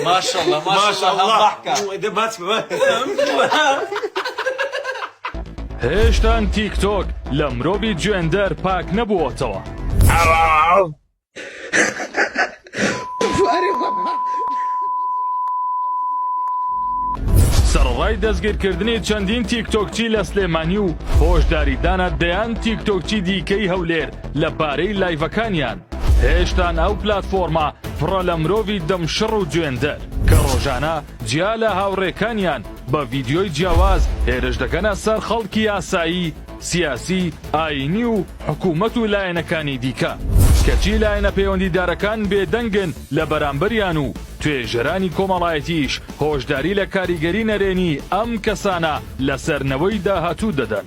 ماشاءاللە ماشاءاللە هێشتان تیک تۆک لە مرۆڤی جوێندەر پاک نەبووەتەوە. سەرەڕای دەستگیرکردنی چەندین تیکتۆکچی لە سلێمانی و هۆشداریدانە دەیان تیکتۆکچی دیکەی هەولێر لە بارەی لایڤەکانیان. هێشتان ئەو پلاتفۆرمە پڕە لە مرۆڤی دەمشڕ و جوێندەر کە ڕۆژانە جیا لە هاوڕێکانیان بە ڤیدیۆی جیاواز هێرش دەکەنە سەر خەڵکی یاسایی سیاسی ئاینی و حکوومەت و لایەنەکانی دیکە کەچی لایەنە پەیوەندیدارەکان بێدەنگن لە بەرامبەریان و توێژەرانی کۆمەڵایەتیش هۆشداری لە کاریگەری نەرێنی ئەم کەسانە لەسەر نەوەی داهاتوو دەدەن.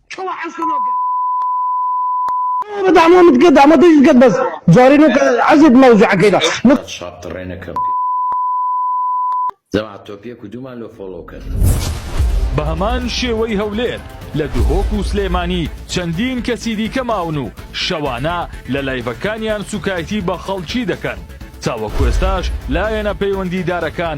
کوا عەزتە لۆ گەت. برۆ بە دامۆ مت گەت دامۆ دژت گەت بەس جارێ نۆ کە عەزێت مەوزوعە کەی دا نۆ. چاپ تڕێ نە کە. جەماعەت تۆپیە کو دوومان لۆ فۆڵۆ کەن. بە هەمان شێوەی هەولێر لە دهۆک و سلێمانی چەندین کەسی دیکە ماون و شەوانە لە لایڤەکانیان سوکایتی بە خەڵکی دەکەن تاوەکوێستاش لایەنە پەیوەندیدارەکان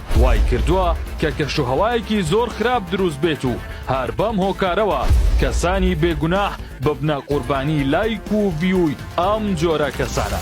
وای کردووە کە کەشوهەوایەکی زۆر خراپ دروست بێت و هەر بەم هۆکارەوە کەسانی بێگوناح ببنە قوربانی لایک و ڤیووی ئەم جۆرە کەسانە.